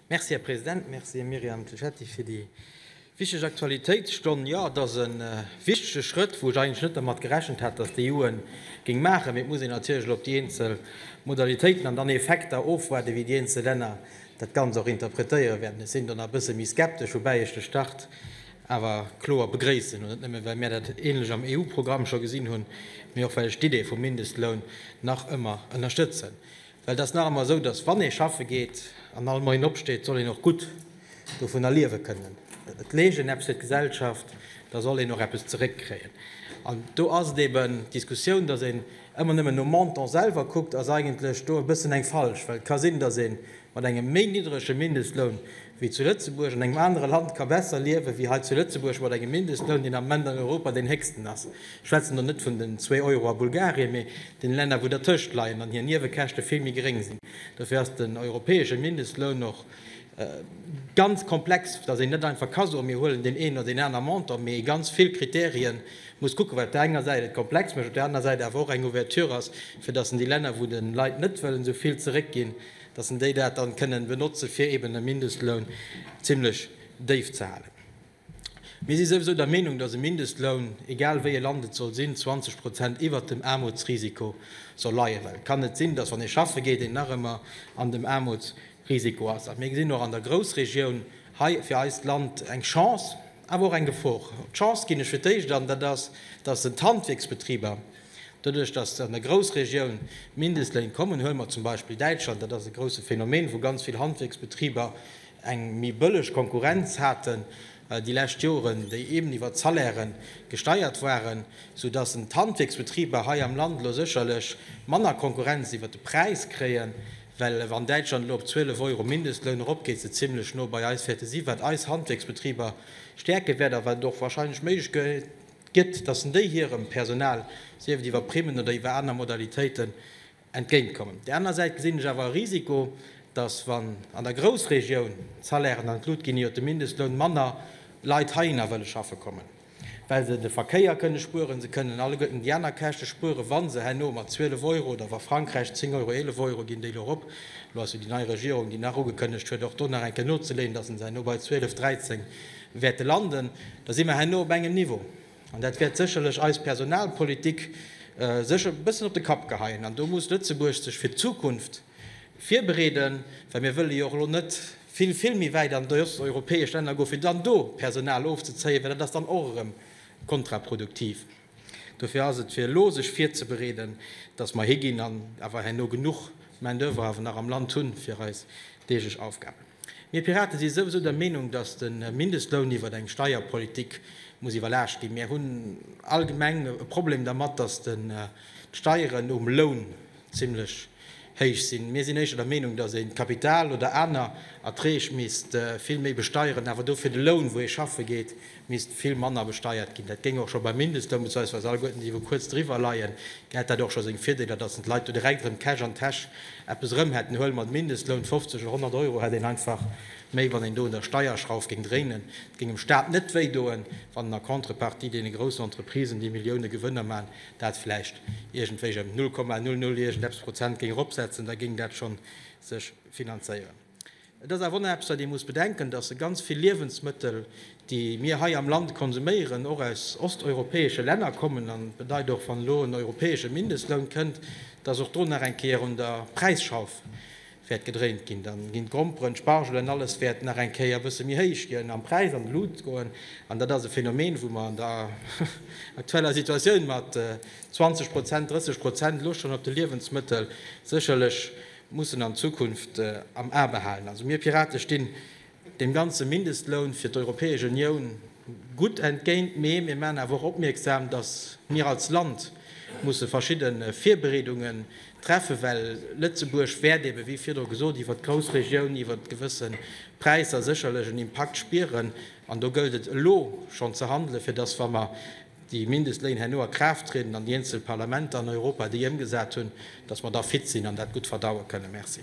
Merci, Här President. Merci, Myriam Cecchetti, fir déi wichteg Aktualitéitsstonn. Jo, et ass e wichtege Schrëtt, wou ech eigentlech net dermat gerechent hat, dass d'EU e géing maachen. Mee et muss een natierlech elo op déi eenzel Modalitéiten an dann Effekter ofwaarden, wéi déi eenzel Länner dat Ganzt och interpretéiere wäerten. Ech sinn do nach e bësse méi skeptesch, woubäi ech de Start awer kloer begréissen. Net nëmme well mir dat änlech am EU-Programm scho gesinn hunn, mee och well ech d'Idee vum Mindestloun nach ëmmer ënnerstëtzen. Well et ass nach ëmmer esou, dass wann ee schaffe geet an all Moien opsteet, soll een och gutt dovunner liewe kënnen. Et leescht een eppes fir d'Gesellschaft, da soll een och eppes zeréckkréien. An do ass et eeben, d'Diskussioun, dass een ëmmer nëmmen nom Montant selwer kuckt, ass eigentlech do e bëssen eng falsch. Well et ka sinn, dass ee mat engem méi niddrege Mindestloun Wie zu Lëtzebuerg an engem anere Land ka besser liewen, wéi hei zu Lëtzebuerg mat engem Mindestloun, deen am Moment an Europa deen héchsten ass, ech schwätzen do net vun den zwee Euro a Bulgarien, mee den Länner wou dertëscht leien an hir Niewekäschte vill méi geréng sinn, dofir ass den europäesche Mindestloun och ganz komplex, datt een net einfach ka soen, mir huelen deen een oder deen aner Montant, mee ee ganz vill Krittärie muss kucken, wat op där enger Säit et komplex mécht, op där anerer Säit awer och eng Ouverture ass, fir datt en déi Länner, wou de Leit net wëllen esou vill zeréckginn, dass en déi dat dann kënnen benotzen fir eben e Mindestloun zimlech déif ze halen. Mir si souwisou der Meenung, dass e Mindestloun, egal wéi e Land et soll sinn, 20 Prozent iwwert dem Aarmutsrisiko soll leien, well et kann net sinn, dass wann ee schaffe geet, een nach ëmmer an dem Aarmutsrisiko ass. A mir gesinn och an der Groussregioun hei fir eist Land eng Chance, awer och eng Gefor. D'Chance ginn ech fir d'éischt an, dat ass, dass en d'Handwierksbetriber, Doduerch, datt se an der Groussregioun Mindestléin kommen, huele mer zum Beispill Däitschland, dat ass e grousse Phänomen, wou ganz vill Handwierksbetriber eng méi bëlleg Konkurrenz haten déi lescht Joren, déi eben iwwer d'Salairë gesteiert waren, soudatt en d'Handwierksbetriber hei am Land elo sécherlech manner Konkurrenz iwwer de Präis kréien, well wann Däitschland elo op 12 Euro Mindestloun eropgeet, se zimlech no bei eis wäerte si, wat eis Handwierksbetriber stäerke wäert a wat et och wahrscheinlech méiglech. gëtt, datt en déi hirem Personal, sief et iwwer Primmen oder iwwer aner Modalitéiten, entgéint kommen. Op där aner Säit gesinn ech awer e Risiko, datt wann an der Groussregioun d'Salairen an d'Lut ginn, iwwer de Mindestloun manner Leit heihinner wëlle schaffe kommen, well se de Verkéier kënne spueren, se kënnen alleguerten déi aner Käschte spueren, wa se herno mat 12 Euro oder wa Frankräich 10 Euro, 11 Euro ginn déi elo erop. Elo ass jo déi nei Regierung, déi nach ugekënnegt huet, och do nach eng Kéier nozeleeën, datt se se herno bei 12, 13 wäerte landen, da si mer herno op engem Niveau, an dat wäert sécherlech eis Personalpolitik sécher e bëssen op de Kapp geheien. An do muss Lëtzebuerg sech fir d'Zukunft virbereeden, well mir wëlle jo och elo net vill, vill méi wäit an déi osteuropäesch Länner goen, fir dann do Personal ofzezéien, well dat ass dann och erëm kontraproduktiv. Dofir ass et, fir elo sech virzebereeden, dass mer higinn an awer herno genuch Main-d'oeuvre awer nach am Land hunn fir eis deeglech Aufgaben. Mir Piraten si souwisou der Meenung, dass de Mindestloun iwwert eng Steierpolitik muss iwwerlaascht ginn. Mir hunn allgemeng e Problem dermat, dass d'Steieren um Loun zimlech héich sinn. Mir sinn éischter der Meenung, dass een d'Kapital oder aner Erträg misst vill méi besteieren, awer dofir de Loun, wou ee schaffe geet, misst vill manner besteiert ginn. Dat géing och scho beim Mindestloun, bezweisweis alleguerten déi wou kuerz driwwer leien, gett dat och scho seng Virdeeler, datt en d'Leit do direkt erëm Cash an d'Täsch eppes erëm hätten. Huele mer den Mindestloun, 50 oder 100 Euro hätt een einfach méi, wann een do un der Steierschrauf géing dréinen. Et géing dem Staat net wéi doen, wann en a Contrepartie deene groussen Entreprisen, déi Millioune Gewënner maachen, dat vläicht iergendwéi ëm 0,00 iergendeppes Prozent géing eropsetzen. Da géing dat scho sech finanzéieren. Et ass awer onaarbechter, dee muss bedenken, datt ganz vill Liewensmëttel, déi mir hei am Land konsuméieren, och aus osteuropäesche Länner kommen. An et bedeit och, wann elo en europäesche Mindestloun kënnt, datt och do nach eng Kéier un der Präisschauf wäert gedréint ginn. Da ginn d'Gromperen, d'Spargel an alles wäert nach eng Kéier e bësse méi héich ginn am Präis, an d'Lut goen. An dat ass e Phänomen, wou mer an der aktueller Situatioun mat 20 Prozent, 30 Prozent elo schonn op de Liewensmëttel sécherlech mussen an Zukunft am A behalen. Also mir Pirate stinn deem ganze Mindestloun fir d'Europäesch Unioun gutt entgéint, mee mir maachen awer och opmierksam, datt mir als Land musse verschidde Virbereedunge treffen, well Lëtzebuerg wäert ebe wéi virdru gesot iwwert d'Groussregioun, iwwert gewësse Präisser sécherlech en Impakt spieren. An do gëllt et elo schonn ze handelen, fir datt, wa mer déi Mindestléin herno a Kraaft trieden an déi eenzel Parlamenter an Europa déi ëmgesat hunn, datt mer da fit sinn an dat gutt verdaue kënnen. Merci.